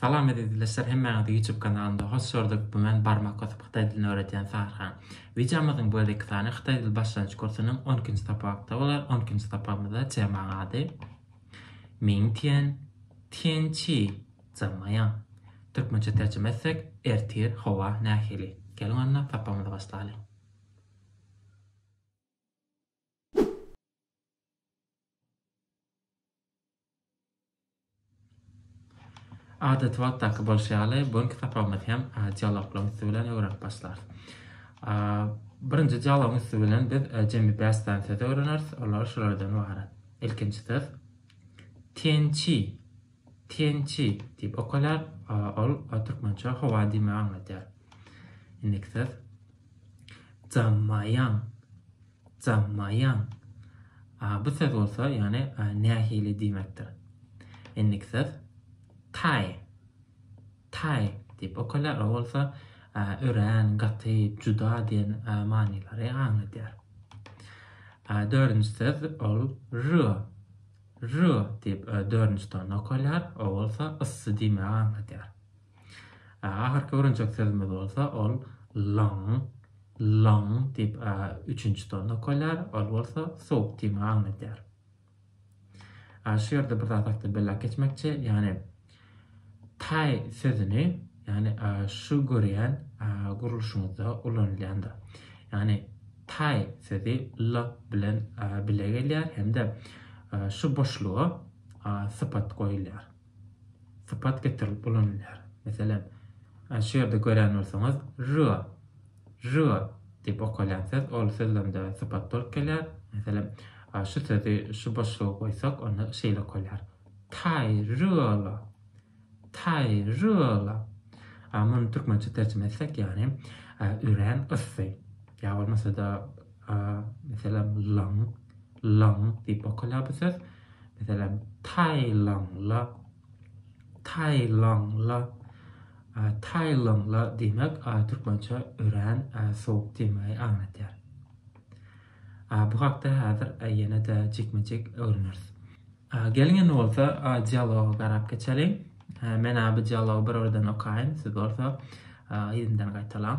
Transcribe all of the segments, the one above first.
Salam ezizleşler hemmäňizi ýutub kanalynda hoş gördük bu men barmak basyp hytaý dilini öwredýän Sahrha. Wideomyzyň bu gezeki sany hytaý dil başlanýyç kursunyň on ikinji sapakda bolar on ikinji sapagymyzda temaň ady Ming tian tian qi zhen me yang türkmençe terjime etsek ertir howa nähili geliň onda sapagymyzy başlaly. Adaty wagytdaky bolşy ýaly, bu günki sapagymyzy hem dialoglaryň üsti bilen öwrenip başlarys. Birinji dialogyň üsti bilen biz e, jemi bäş sany söz öwreneris. Olar şulardan ibarat. Ilkinji söz tençi. Tençi diýip okalar. Ol türkmençe howa diýmegi aňladýar. Indiki söz jammaýan. Zamaýan. A bu söz bolsa, ýagny nähili diýmekdir. Indiki söz taý. Taý diýip okalýar. O bolsa örän, gaty, juda diýen manylary aňladýar. Dördünji söz ol rö. Rö diýip dördünji tony okalýar. O bolsa yssy diýmegi aňladýar. Ahyrky öwrenjek sözümiz bolsa ol Laň, Laň diýip üçünji ton okalýar, ol bolsa sowuk tiýmegi aňladýar. Şu ýerde bir zat hakda belläp geçmekçi, ýagny taý sözüni, ýagny şu görýän gurluşymyzda ulanylýandyr. Ýagny taý sözi L bilen bile gelýär hem-de şu boşluga sypat goýulýar. sypat getirilip ulanylýar. Meselem, şu ýerde gören bolsaňyz, ry, ry diýip okalýan söz, ol sözlemde sypat bolup gelýär. Meselem, şu sözi şu boşluga goýsak, onda şeýle okalýar, taýryla, taýryla. Muny türkmençe terjime etsek, ýagny örän yssy. Ýa bolmasa-da, meselem, laň, laň diýip okalýar bu söz. Meselem, Taýlanla, Taýlanla, Taýlanla diýmek türkmençe örän sowuk diýmegi aňladýar. Bu hakda häzir ýene-de jikme-jik öwreneris. Geliň indi bolsa dialoga garap geçeliň. Men bu dialogy bir ýerden okaýyn, siz bolsa ýerinden gaýtalaň.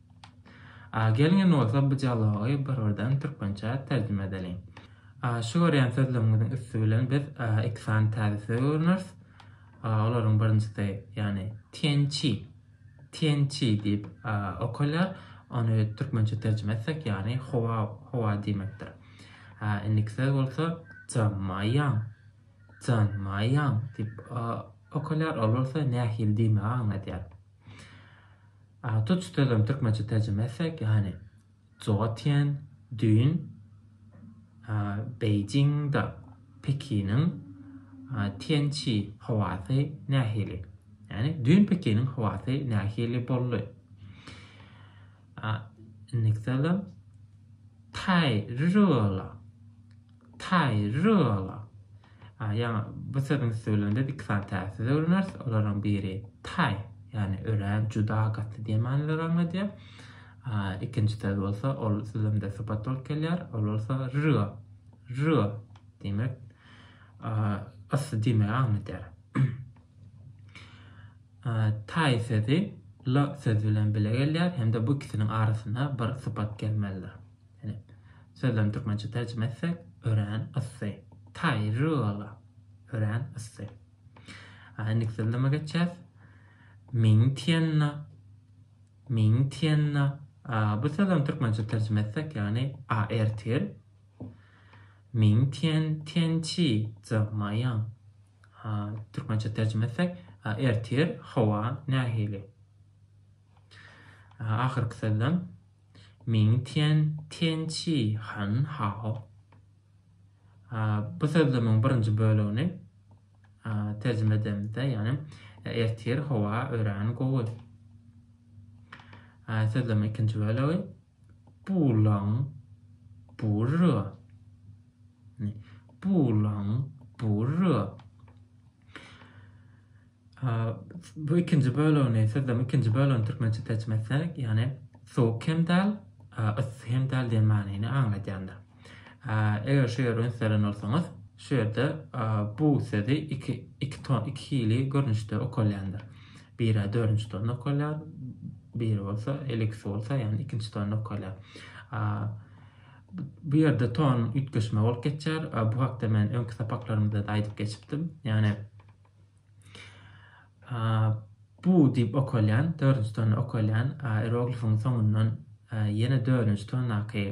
A gelňen bolsa bu dialogy bir-birden türkmençä terjime edeliň. A şu görýän sözleriňiziň üsti bilen biz iki sany täze söz öwreneris. A olaryň birinjisi, ýagny tiençi, tiençi diýip okalýar. Ony türkmençe terjime etsek, ýagny howa, howa diýmekdir. A indiki söz bolsa janmaýaň, janmaýaň diýip okalýar. Ol bolsa nähili diýmegi aňladýar. Tuç sözüni türkmençe terjime etsek, ýagny Joatýen düýn Beýjiňde Pekiniň Tiançi howasy nähili? Ýagny düýn Pekiniň howasy nähili boldy? Indiki salam. Taý rürola. Taýryala. A, ýaňy bu sözüň üsti bilen biz iki sany täsiz öwreneris. Olaryň biri taý, ýagny örän, juda, gaty diýen manyda aňladýar. A, ikinji söz bolsa, ol sözlemde sypat bolup gelýär. Ol bolsa ryga. Ryga diýmek, a, yssy diýmegi aňladýar. A, taý sözi la sözi bilen bile gelýär hem-de bu ikisiniň arasyna bir sypat gelmelidir. Ine, sözlerini türkmençe terjime etsek, örän yssy. Taýryla. Örän yssy. A, indiki sözleme geçýäs. Mingtienna. Mingtienna. A, bu sözlemi türkmençe terjime etsek, ýagny a ertir. Mingtien tiençi zamaýan. A, türkmençe terjime etsek, a ertir howa nähili? A, ahyrky sözlem. Ming Tian Tian Chi Han Hao Bu sözlemiň birinji bölegini terjime edemizde, ýagny ertir howa örän gowy. Sözlemiň ikinji bölegi Bu lang bu re. Bu lang bu re. Bu ikinji bölegini sözlem ikinji bölegini türkmençe terjime etsek, yani soğuk hem däl, ıssy hem däl diýen manyny aňladýandyr. Eger şu ýere ünselen bolsaňyz, şu ýerde bu sözi iki, iki, ton, iki hili görnüşde okalýandyr. Biri dördünçi tonda okalýar, biri bolsa eliksi bolsa, yani ikinci tonda okalýar. Bu ýerde ton üýtgeşme bolup geçýär. Bu hakda men öňki sapaklarymda da aýdyp geçipdim. Yani A, bu diýip okalýan, dördünji tony okalýan, a, ieroglifiň soňundan a, ýene dördünji tondaky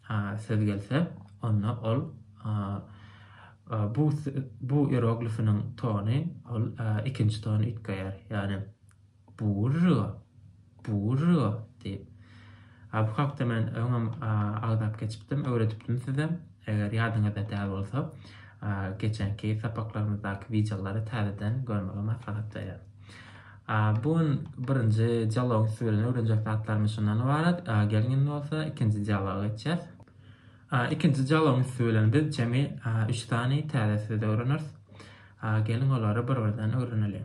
a, söz gelse, onda ol a, a, bu bu ieroglifiniň tony ol a, ikinji tony üýtgeýär. Ýagny Bur-r-r-r, bur-r-r-r, diýip. A bu hakda men öňem agzap geçipdim, öwredipdim size. Eger ýadyňyzda däl bolsa, geçenki sapaklarymyzdaky wideolary täzeden görmegi maslahat berýän. A bu gün birinji dialogyň üsti bilen öwrenjek zatlarymyz şundan ybarat. Geliň indi bolsa ikinji dialoga geçýäs. A ikinji dialogyň üsti bilen biz jemi üç sany täze söz öwreneris. A geliň olary bir-birden öwreneliň.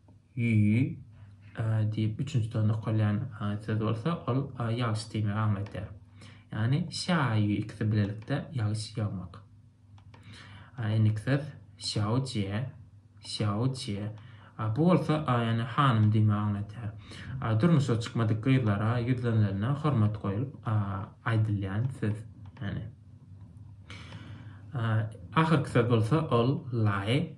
Ýý, a diýip üçünji ton okalýan söz bolsa, ol ýagyş diýmegi aňladýar. Ýagny şä-ýý ikisi bilelikde ýagyş ýagmak. A endiki söz şýaojie, şýaojie. A bu bolsa ýagny hanym diýmegi aňladýar. A durmuşa çykmadyk gyzlara ýüzlenilende hormat goýulyp aýdylýan söz. Ýagny. A ahyrky söz bolsa, ol laý.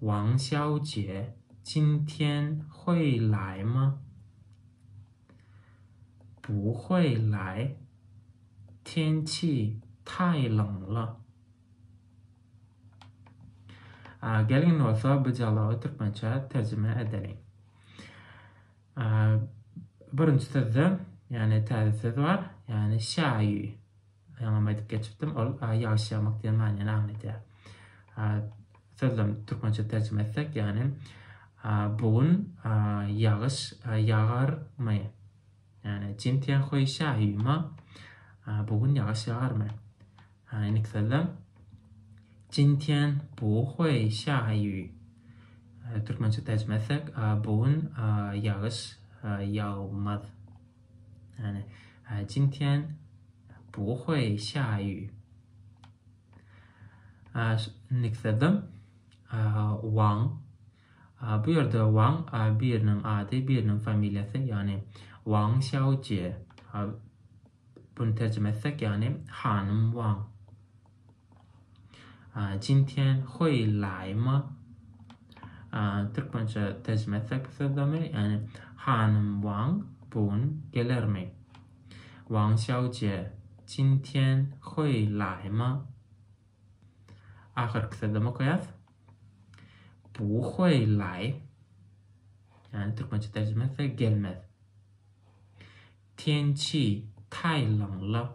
Wang Xiaojie Jin Tian Hui Lai Ma Wu Hui Lai Tian Qi Tai Ling La Gelin bolsa bu dialogy türkmençe terjime edeliň. Birinji sözde, yani täze söz bar, yani şaýy. Öňem aýdyp geçipdim, ol ýagyş ýagmak diýen manyny aňladýar. Sözlem türkmençe terjime etsek, ýagny bu gün ýagyş ýagarmy? Ýagny, Jin Tian Hui Xia Yu Ma? Bu gün ýagyş ýagarmy? Indiki sözlem Jin Tian Bu Hui Xia Yu. Türkmençe terjime etsek, bu gün ýagyş ýagmaz. Ýani, Jin Tian, Bu Huaý Şaýu. Nikserdam, Wang. Bu ýerde Wang biriniň ady, biriniň familiýasy, ýani Wang Xiao Jie. Buny terjime etsek, ýani hanym Wang. Jin Tian Hui Lai my? Türkmençe terjime etsek bu sözlemi, ýagny hanym Wang bu gün gelermi? Wang Xiaojie, Jin Tian Hui Lai my? Ahyrky sözlemi okaýas. Bu Hui Lai, ýagny türkmençe terjime etsek gelmez. Tian Qi Tai Long la,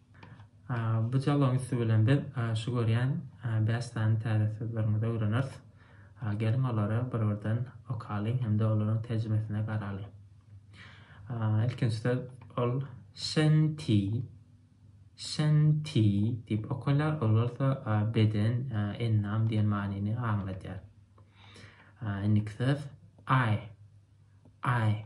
Bu dialogyň üsti bilen biz şu görýän bäş sany täze sözlerimizi öwreneris. Geliň olary bir-birden okalyň hem-de olaryň terjimesine garalyň. Ilkinji söz ol şenti, şenti diýip okalýar. Ol bolsa beden, endam diýen manyny aňladýar. Indiki söz ay, ay.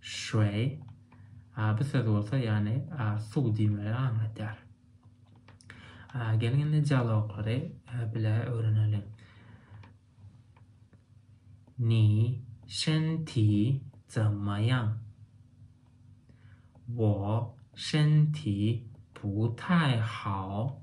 Şway. A bu söz bolsa ýagny a suw diýmegi aňladýar. A geliň indi dialoglary bile öwreneliň. Ni şen ti zama ýaň. Wo şen ti bu taý hao.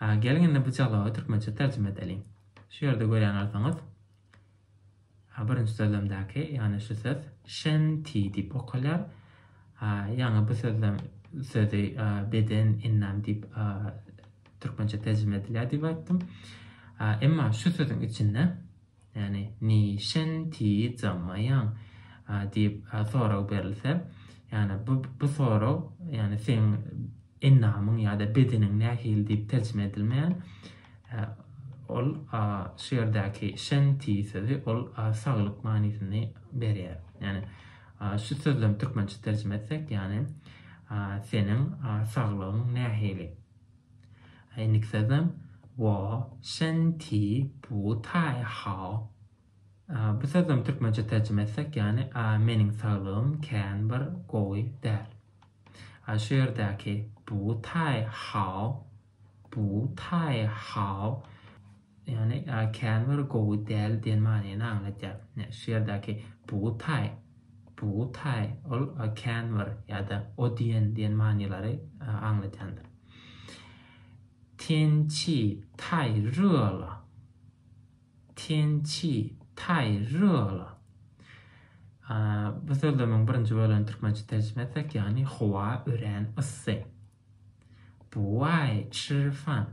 Geliň indi bu dialogy türkmençe terjime edeliň. Şu ýerde görýän bolsaňyz, birinji sözlemdäki, ýagny şu söz şenti diýip okalýar. Ýaňy bu sözlem sözi beden, ennam diýip türkmençe terjime edilýär diýip aýtdym. Emma şu sözüň içinde Ýagny, Niçin tiz jammaýaň? diýip sorag berilse, ýagny bu bu sorag, ýagny seň endamyň ýa-da bedeniň nähili diýip terjime edilmeýär. Ol şu ýerdäki şen tiz sözi ol saglyk manysyny berýär. Ýagny şu sözlemi türkmençe terjime etsek, ýagny seniň saglygyň nähili? 哎nik sözem wo shen ti bu tai hao. Bu sözem türkmençe terjime etsek yani meniň saglygym kän bir gowy däl. A şu ýerdäki bu tai hao bu tai hao. Ýagny käbir gowy däl diýen manyny aňladýar. Şu ýerdäki bugutaý, bugutaý ol käbir ýa-da o diýen diýen manylary aňladýandyr. Tian çi taý rýo la, tian çi taý rýo la. Bu sözlemiň birinji bölegini türkmençe terjime etsek, ýagny howa örän yssy. Bu aý çyrpan.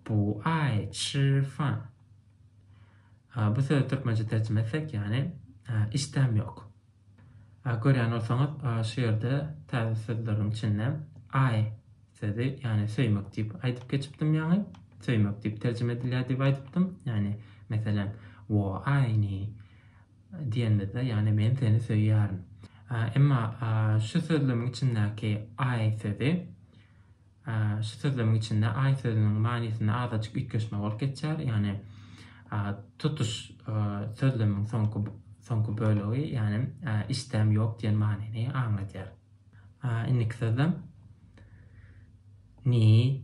Bu aý çyrpan. A, bu sözi türkmençe terjime etsek, ýagny, işdäm ýok. A, görýän bolsaňyz, a, şu ýerde täze sözleriň içinde aý sözi, ýagny söýmek diýip aýdyp geçipdim ýaňy. Söýmek diýip terjime edilýär diýip aýdypdym. Ýagny, meselem, wo aýni. diýenimizde, ýagny men seni söýýärin. Emma şu sözlemiň içindäki I sözi, şu sözlemiň içinde I sözüniň manysynda azajyk üýtgeşme bolup geçýär, ýagny tutuş sözlemiň soňky soňky bölegi, ýagny isdäm ýok diýen manyny aňladýar. Indiki sözlem, Ni,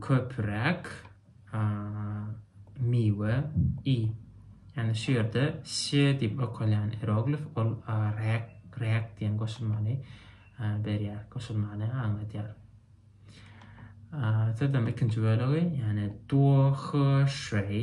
köpüräk miwe i. Ýani şu ýerde ş diýip okalýan ieroglif ol räk, räk diýen goşulmany berýär, goşulmany aňladýar. Sözlemiň ikinji bölegi, ýani duo, hy, şüi.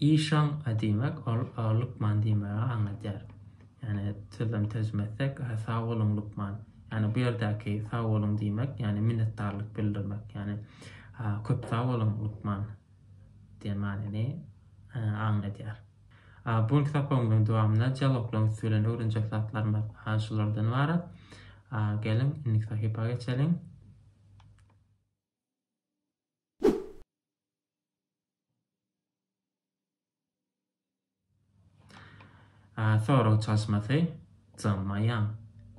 Işan diýmek ol lukman diýmegi aňladýar. Ýani sözem terjime etsek sag boluň lukman. Ýani bu ýerdäki sag boluň diýmek ýani minnetdarlyk bildirmek. Ýani köp sag boluň lukman diýen manyny aňladýar. Bu günki sapagymyzyň dowamynda dialoglaryň üsti bilen öwrenjek zatlarymyz şulardan ybarat. Geliň indiki sahypa geçeliň. Sorag çalyşmasy, Janmaýan,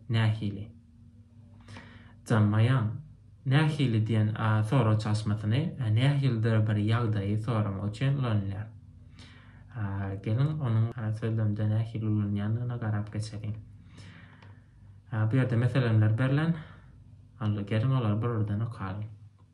nähili? Janmaýan, nähili diýen sorag çalyşmasyny nähilidir bir ýagdaýy soramak üçin ulanylýar. Geliň, onuň sözlemde nähili ulanylýandygyna garap geçeliň. Bu ýerde meseleler berlen. Geliň, olary bir-birden okalyň.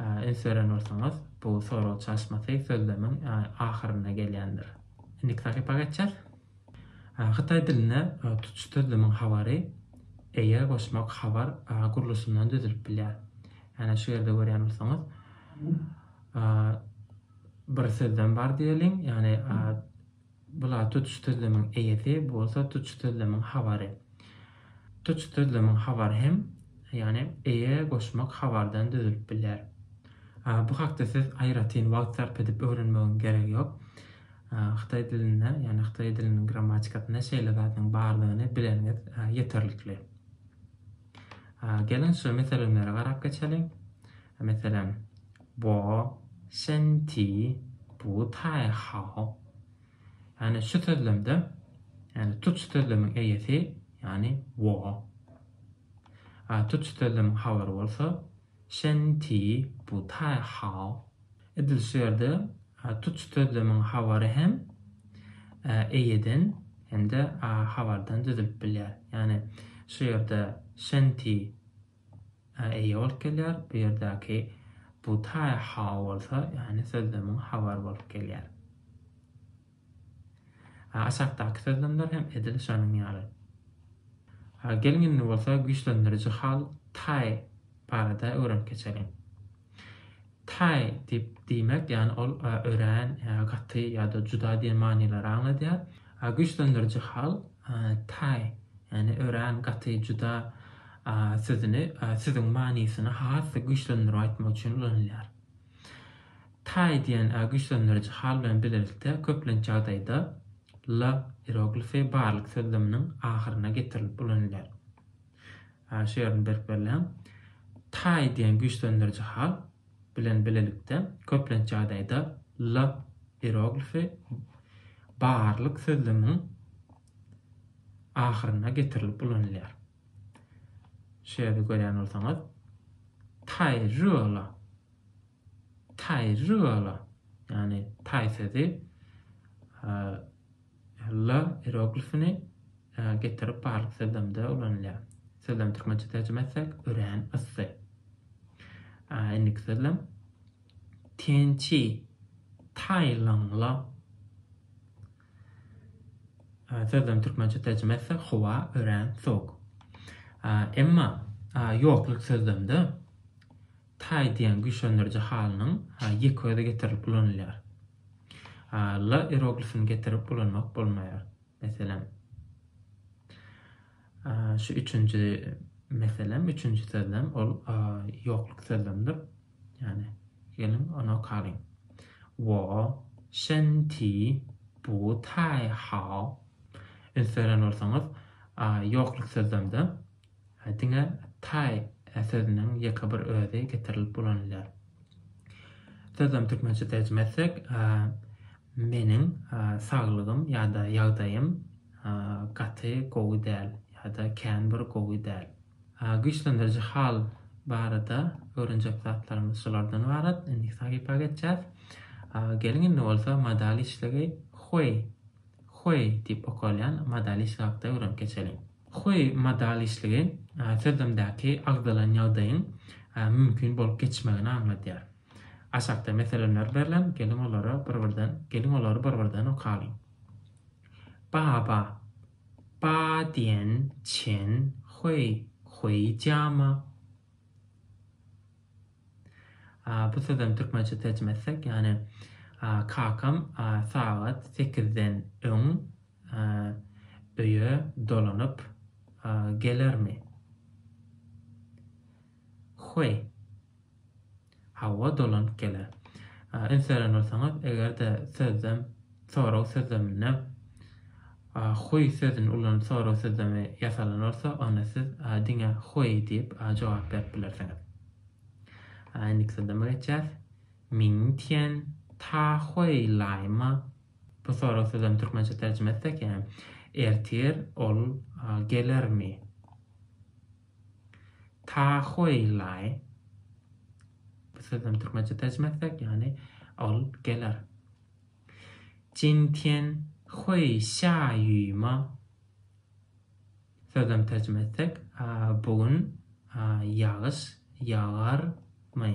Üns beren bolsaňyz, bu sorag çalyşmasy sözlemiň ahyrynda gelýändir. Indiki sahypa geçýäs. Hytaý dilinde tutuş sözlemiň habary eýe goşmak habar gurluşyndan düzülip bilýär. Ýagny şu ýerde görýän bolsaňyz, bir sözlem bar diýeliň, ýagny Bu zat tutuş sözlemiň eýesi, bu bolsa tutuş sözlemiň habary. Tutuş sözlemiň habary hem, ýagny eýe goşmak habardan düzülip bilýär. Bu hakda siz aýratyn wagt sarp edip öwrenmegiň geregi ýok. Hytaý dilinde, ýagny hytaý diliniň grammatikasynda şeýle zadyň bardygyny bileniňiz ýeterlikli. Geliň şu meselemlere garap geçeliň. Meselem, Bo shen ti bu tai hao. Ýagny şu sözlemde, ýagny tuç sözlemiň eýesi, ýagny wo. Tuç sözlemiň habary bolsa, Shen Ti Bu Tai Hao. Edil şu ýerde tutuş sözlemiň habary hem eýeden hem-de habardan düzülip bilýär. Ýagny şu ýerde Shen Ti eýe bolup gelýär, bu ýerdäki Bu Tai Hao bolsa, ýagny sözlemiň habary bolup gelýär. A aşakdaky sözlemler hem edil şonuň ýaly. A geliň indi bolsa güýçlendiriji hal Taý barada öwrenip geçeliň. Taý diýip diýmek, ýagny ol örän, gaty ýa-da juda diýen manylary aňladýar. A güýçlendiriji hal Taý, ýagny örän, gaty, juda sözüni sözüň manysyny has-da güýçlendirip aýtmak üçin ulanylýar. Taý dna güýçlendiriji hal bilen bilelikde köplenç ýagdaýda La iroglifi barlyk sözleminiň ahyryna getirilip ulanylýar. Şu ýerini berip belläň. Taý diýen güýçlendiriji hal bilen bilelikde köplenç ýagdaýda La iroglifi barlyk sözleminiň ahyryna getirilip ulanylýar. Şu ýerde görýän bolsaňyz, Taý rüo la Taýry bala, ýagny taý sözi la ieroglifini getirip barlyk sözlemde ulanylýar. Sözlemi türkmençe terjime etsek, örän yssy. Indiki sözlem Tençi Taýlyňla sözlemi türkmençe terjime etsek, howa örän sowuk. Emma ýokluk sözlemde Taý diýen güýçlendiriji halynyň ýeke-özi getirilip ulanylýar. La ieroglifini getirip ulanmak bolmaýar. Meselem, şu üçünji meselem, üçünji sözlem ol ýokluk sözlemdir. Ýagny, geliň ony okalyň. Wo shen ti bu taý hao. Üns beren bolsaňyz, ýokluk sözlemde Diňe Taý sözüniň ýeke bir özi getirilip ulanylýar. Sözem türkmençe terjime etsek, Meniň saglygym ýa-da ýagdaýym gaty gowy däl ýa-da kän bir gowy däl. Güýçlendiriji hal barada öwrenjek zatlarymyz şulardan ybarat. Indiki sahypa geçýäs. Geliň indi bolsa modal işlegi Huý, Huý diýip okalýan modal işlegi hakda öwrenip geçeliň. Huawei modalişligi sözlemdäki agzalan ýagdaýyň mümkin bolup geçmegini aňladýar. Aşakda meselemler berlen, geliň olara bir-birden geliň olary bir-birden okalyň. Baba, Ba diýen Çen Huawei, Huawei diýama? Bu sözem türkmençe terjime etsek, ýagny kakam sagat sekizden öň öýe dolanyp gelermi? Hoý, hawa, dolanyp geler. Üns beren bolsaňyz, eger-de sözlem sorag sözleminde hoý sözüni ulanyp sorag sözlemi ýasalan bolsa, onda siz diňe hoý diýip jogap berip bilersiňiz. Indiki sözleme geçýäs. Mingtian ta huaýlaýma Bu sorag sözem türkmençe terjime etsek yani ertir ol gelermi? Tahoýlaý. Bu sözem türkmençe terjime etsek yani ol geler. Jintian hui xia yu ma? Sözem terjime etsek bugün ýagyş ýagarmy?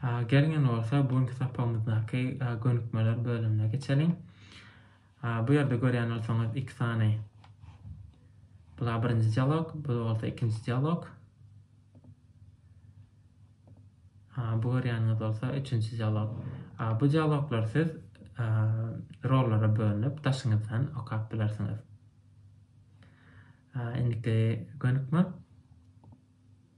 Geliň indi bolsa bu günki sapagymyzdaky gönükmeler bölümine geçeliň. Bu ýerde görýän bolsaňyz iki sany Bula birinji dialog, bu bolsa ikinji dialog. Bu görýäniňiz bolsa üçünji dialog. Bu dialoglar siz rollara bölünip daşyňyzdan okap bilersiňiz. Indiki gönükme.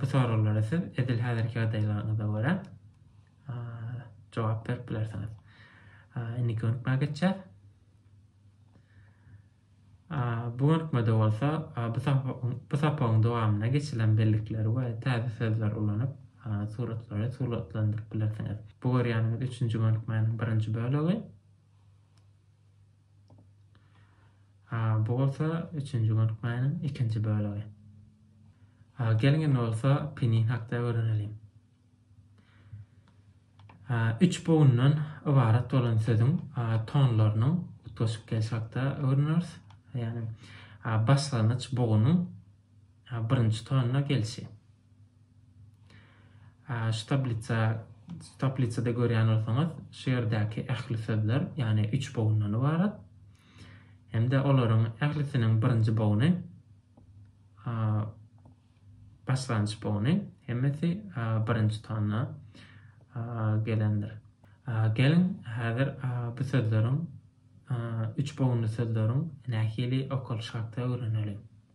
Bu soraglara siz edil häzirki ýagdaýlaryňyza görä jogap berip bilersiňiz. Indi gönükmä geçýär. Bu gönükmede bolsa bu sapagyň dowamyna geçilen bellikleri we täze sözleri ulanyp suratlary suratlandyryp bilersiňiz. Bu görýäniňiz üçünji gönükmäniň birinji bölegi. Bu bolsa üçünji gönükmäniň ikinji bölegi. Geliň indi bolsa penin hakda öwreneliň. Üç bogundan ybarat bolan sözüň tonlarynyň utgaşyp gelişi hakda öwreneris. Ýagny başlangyç bogunyň birinji tonuna gelişi. Şu tablisa, şu tablisada görýän bolsaňyz, şu ýerdäki ähli sözler, ýagny üç bogyndan ybarat. Hem-de olaryň ählisiniň birinji bogyny a, başlangyç bogyny, hemmesi a, birinji tonna a, gelendir. A, Geliň, häzir a, bu sözleriň, a, üç bogunly sözleriň nähili okalyşy hakda öwreneliň.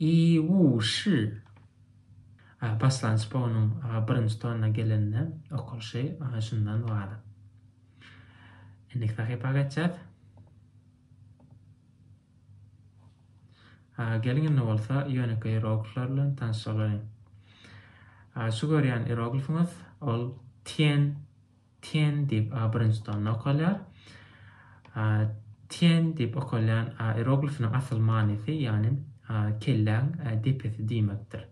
Iýuwşy. A paslanç bu onuň a birinji tonna gelende okalşy a şundan wala. Indiki sahypa geçýäs. A geliň indi bolsa ýönekeý ieroglifler bilen tanyşalyň. A şu görýän ieroglifiňiz ol tien Ten diýip a birinji tanda okalýar. Ten diýip okalýan a ieroglifiniň asyl manysy, ýagny kelläň depesi diýmekdir.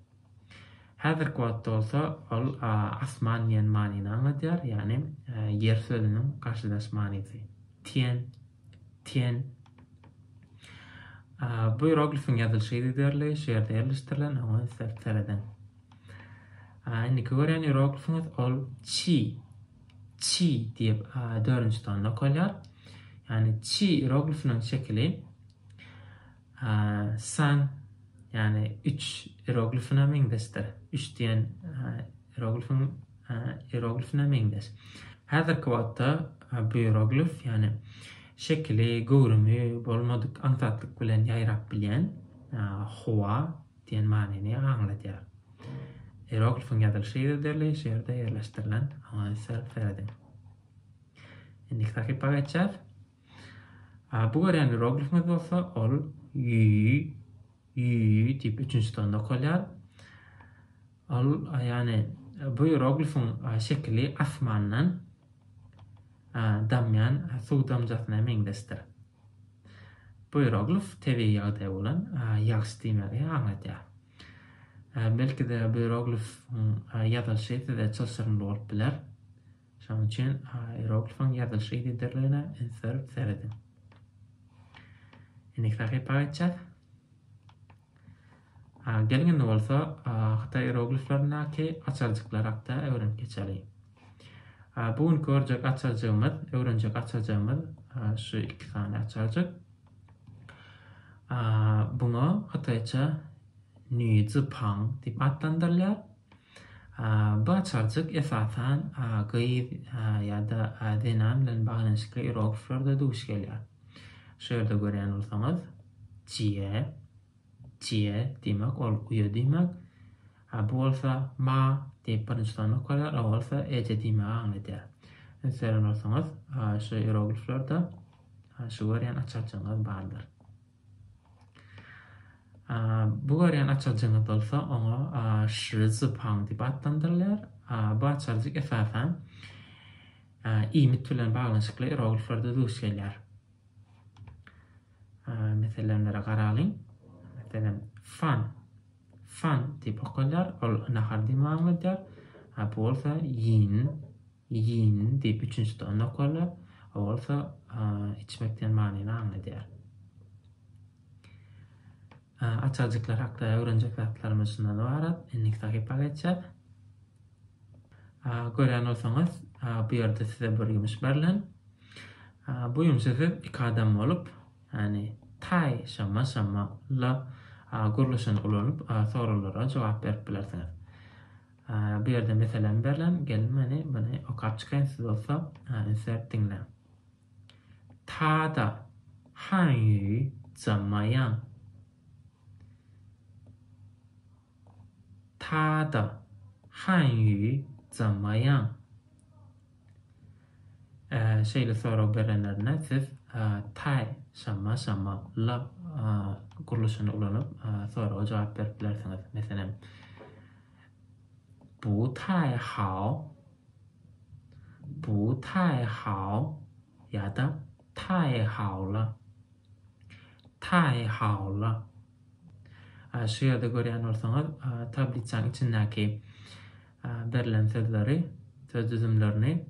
Häzirki wagtda bolsa ol asman diýen manyny aňladýar, ýagny ýer sözüniň garşydaş manysy. Ten, Ten. Bu ieroglifiň ýazylyşy yzygiderli, şu ýerde ýerleşdirilen, oňa islep serediň. A indiki gören ýeroglifimiz ol çi. Çi diýip, a dördünji tonda okalýar. Ýani çi ýeroglifiniň şekili a san ýani 3 ýeroglifine meňzeşdir. 3 diýen ýeroglifin ýeroglifine meňzeş. Häzirki wagtda bu ýeroglif ýani şekili, göwrümi bolmadyk aňsatlyk bilen ýaýrap bilýän Hua Diýen manyny aňladýar. Ieroglifiň ýazylyşy yzderli şu ýerde ýerleşdirilen. Oňa ünsler serediň. Indiki sahypa geçýäs. Bu görýän ieroglifimiz bolsa ol ýüý, ýüý diýip üçünji tonda okalýar. Ol ýagny bu ieroglifiň şekili asmandan damýan suw damjasyna meňzeşdir. Buýruglyf tebigy ýagdaý bolan ýagyş diýmegi aňladýar. Belki-de buýruglyfyň ýazylyşy size çylşyrymly bolup biler. Şonuň üçin ieroglifyň ýazylyş yzygiderligine üns berip serediň. Indiki sahypa geçýäs. Geliň indi bolsa hytaý ierogliflerindäki açarjyklar hakda öwrenip geçeli. Bu günki görjek açarjygymyz, öwrenjek açarjygymyz şu iki sany açarjyk. Buňa hytaýça Nüzi Pang diýip atlandyrylýar. Bu açarjyk esasan gyz ýa-da zenan bilen baglanyşykly ierogliflerde duş gelýär. Şu ýerde görýän bolsaňyz, Cie, Cie diýmek ol uýa diýmek. Ha bu bolsa Ma diýip birinji sany okalýar, o bolsa eje diýmegi aňladýar. Üns beren bolsaňyz, şu ierogliflerde şu görýän açarjygyňyz bardyr. Bu görýän açarjygyňyz bolsa oňa Şrizupang diýip atlandyrylýar. Bu açarjyk esasan iýmit bilen baglanyşykly ierogliflerde duş gelýär. Meselemlere garalyň. Meselem, fan. Fan diýip okalýar. Ol nahar diýmegi aňladýar. Bu bolsa ýin. Ýyyn, diýip, üçünji de ony okarlar. O bolsa içmek diýen manyny aňladýar. Açarjyklar hakda öwrenjek zatlarymyz şundan ybarat. Indiki sahypa geçýäs. Görýän bolsaňyz, bu ýerde size bir ýumuş berlen. Bu ýumşa siz iki adam bolup, ýani taý şama şama la gurluşyny ulanyp, soralara jogap berip bilersiňiz. Bu ýerde meselem berlen, gelin meni muny okap çykaýyn siz bolsa ünsläp diňläň. Tada, han ýu, zam ma ýan. Tada, han ýu, zam ma ýan. Şeýle sorag berenlerinde siz Taý, Şama, Şama, La gurluşyny ulanyp soraga jogap berip bilersiňiz. Meselem, Bu Taý Hao, Bu Taý Hao ýa-da Taý Haola, Taý Haola. Şu ýerde görýän bolsaňyz, tablisanyň içindäki Berlen sözleri, söz düzümlerini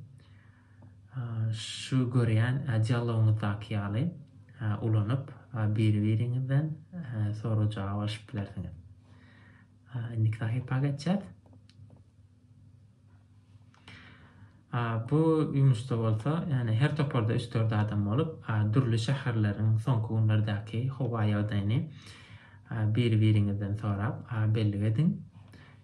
şu görýän dialogyňyzdaky ýaly ulanyp, biri-biriňizden sorag-jogap alyşyp bilersiňiz. Indiki sahypa geçýäs. Bu ýumuşda bolsa, ýagny her toparda üç-dört adam bolup, dürli şäherleriň soňky günlerdäki howa ýagdaýyny biri-biriňizden sorap bellik ediň.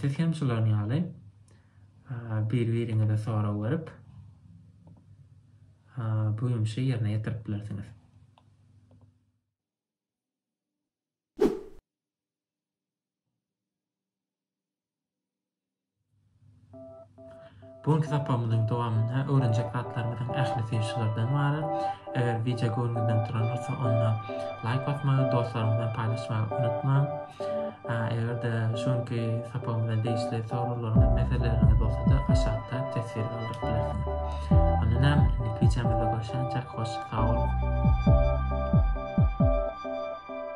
Siz hem şularyn ýaly bir-biriňize sorag berip, bu ýumşy ýerine ýetirip bilersiňiz. Bu günki sapagymyzyň dowamynda öwrenjek zatlarymyzyň ählisi şulardan ybarat. Eger wideo göwnüňizden duran bolsa, onda laýk basmagy, dostlaryňyz bilen paýlaşmagy unutmaň. Eger-de şu günki sapagymyza degişli soraglaryňyz, meseleleriňiz bolsa-da, aşakda teswir galdyryp bilersiňiz. Onda näme, indiki wideomyzda görüşýänçäk, hoş, sag boluň!